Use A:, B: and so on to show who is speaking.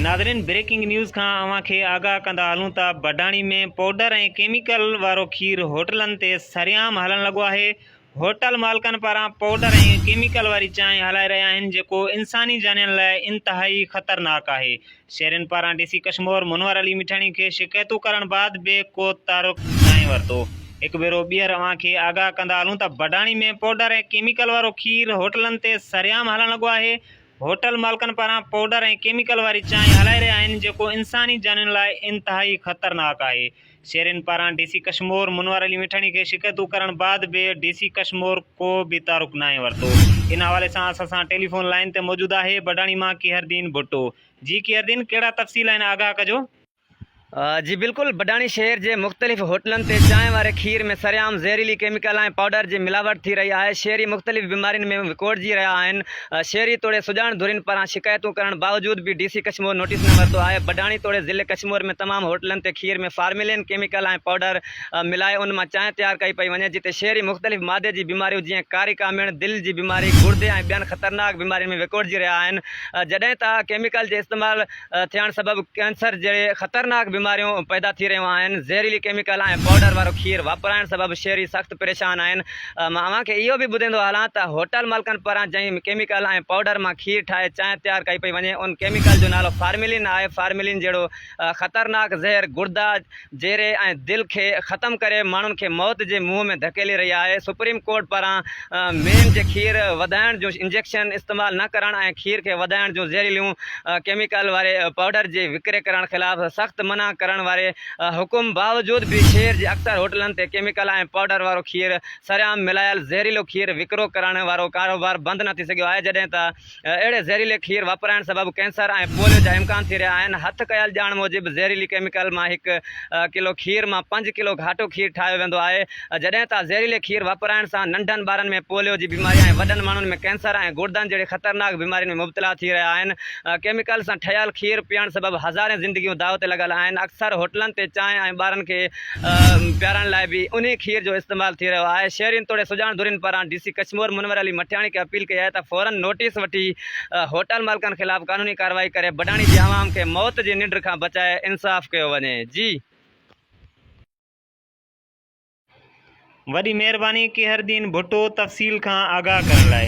A: ناظرين breaking news کان اوهان کي آگاهه ڪندا هلون ته بڊاڻي ۾ پوڊر ۽ ڪيميڪل وارو کير هوٽلن تي سرعام هلڻ لڳو آهي هوٽل مالڪن پاران پوڊر ۽ ڪيميڪل واري چانهه هلائي رهيا آهن جيڪو انساني جانين لاء انتهائي خطرناڪ آهي شهرين پاران ڊي سي ڪشمور منور علي مٺاڻي کي شڪايتون ڪرڻ بعد به ڪو تعرق ناهي ورتو هڪ ڀيرو ٻيهر اوهان کي آگاهه ڪندا هلون ته بڊاڻي ۾ پوڊر ۽ ڪيميڪل وارو کير هوٽلن تي سرعام هلڻ لڳو آهي هوٽل مالڪن پاران پوڊر ۽ ڪيميڪل واري چانهه هلائي رهيا آهن جيڪو انساني جانين لاء انتهائي خطرناڪ آهي شهرين پاران ڊي سي ڪشمور منور علي مٺاڻي کي شڪايتون ڪرڻ بعد به ڊي سي ڪشمور ڪو به تعارف ناهي ورتو ان حوالي سان اسان سان ٽيليفون لائين تي موجود آهي بڊاڻي مان ڪيهردين ڀٽو جي ڪيهردين ڪهڙا تفصيل آهن آگاهه ڪجو. جي
B: بلڪل بڊاڻي شهر جي مختلف هوٽلن تي چانهه واري کير ۾ سرعام زهريلي ڪيميڪل ۽ پائوڊر جي ملاوٽ ٿي رهي آهي شهري مختلف بيمارين ۾ وڪوڙجي رهيا آهن شهري توڙي سڄاڻ ڌرين پاران شڪايتون ڪرڻ باوجود به ڊي سي ڪشمور نوٽيس نه ورتو آهي بڊاڻي توڙي ضلعي ڪشمور ۾ تمام هوٽلن تي کير ۾ فارملين ڪيميڪل ۽ پائوڊر ملائي ان مان چانهه تيار ڪئي پئي وڃي جتي شهري مختلف معدي جي بيماريون جيئن ڪاري ڪامڻ دل جي بيماري گڙدي ۽ ٻين خطرناڪ بيمارين ۾ وڪوڙجي رهيا آهن جڏهن ته ڪيميڪل جي استعمال ٿيڻ سبب ڪينسر جهڙي خطرناڪ بيماريون پيدا ٿي رهيون آهن، زهريلي ڪيميڪل ۽ پائوڊر وارو کير واپرائڻ سبب شهري سخت پريشان آهن، مان اوهان کي اهو به ٻڌيندو هلان ته هوٽل مالڪن پاران جنهن ڪيميڪل ۽ پائوڊر مان کير ٺاهي چانهه تيار ڪئي پئي وڃي ان ڪيميڪل جو نالو فارملين آهي، فارملين جهڙو خطرناڪ زهر گڙدا. جيري ۽ دل کي ختم ڪري ماڻهن کي موت جي منهن ۾ ڌڪيلي رهي آهي سپريم ڪورٽ پاران مين جي کير وڌائڻ جون انجيڪشن استعمال نه ڪرڻ ۽ کير کي وڌائڻ جون زهريليون ڪيميڪل واري پائوڊر جي وڪري ڪرڻ خلاف سخت منع ڪرڻ واري حڪم باوجود به شهر جي اڪثر هوٽلن تي ڪيميڪل ۽ پائوڊر وارو کير سرعام ملايل زهريلو کير وڪرو ڪرڻ وارو ڪاروبار بند نه ٿي سگهيو آهي جڏهن ته اهڙي زهريلي کير واپرائڻ سبب ڪينسر ۽ پوليو جا امڪان ٿي رهيا آهن، هٿ ڪيل ڄاڻ موجب زهريلي ڪيميڪل مان هڪ ڪلو کير مان پنج ڪلو گهاٽو کير ٺاهيو ويندو آهي، جڏهن ته زهريلي کير واپرائڻ سان ننڍن ٻارن ۾ پوليو جي بيماري ۽ وڏن ماڻهن ۾ ڪينسر ۽ گڙدن جهڙي خطرناڪ بيمارين ۾ مبتلا ٿي رهيا آهن، ڪيميڪل سان ٺهيل کير پيئڻ سبب هزارين زندگيون داء تي لڳل آهن، اڪثر هوٽلن تي چانهه ۽ ٻارن کي پيارڻ لاء به انهي کير جو استعمال ٿي رهيو آهي شهرين توڙي سڄاڻ ڌرين پاران ڊي سي ڪشمور منور علي مٺياڻي کي اپيل ڪئي آهي ته فورن نوٽيس وٺي هوٽل مالڪن خلاف قانوني ڪارروائي ڪري بڊاڻي جي عوام کي موت جي ننڊ کان بچائي انصاف ڪيو وڃي جي
A: وڏي مهرباني قهرالدين ڀٽو تفصيل کان آگاهه ڪرڻ لاء.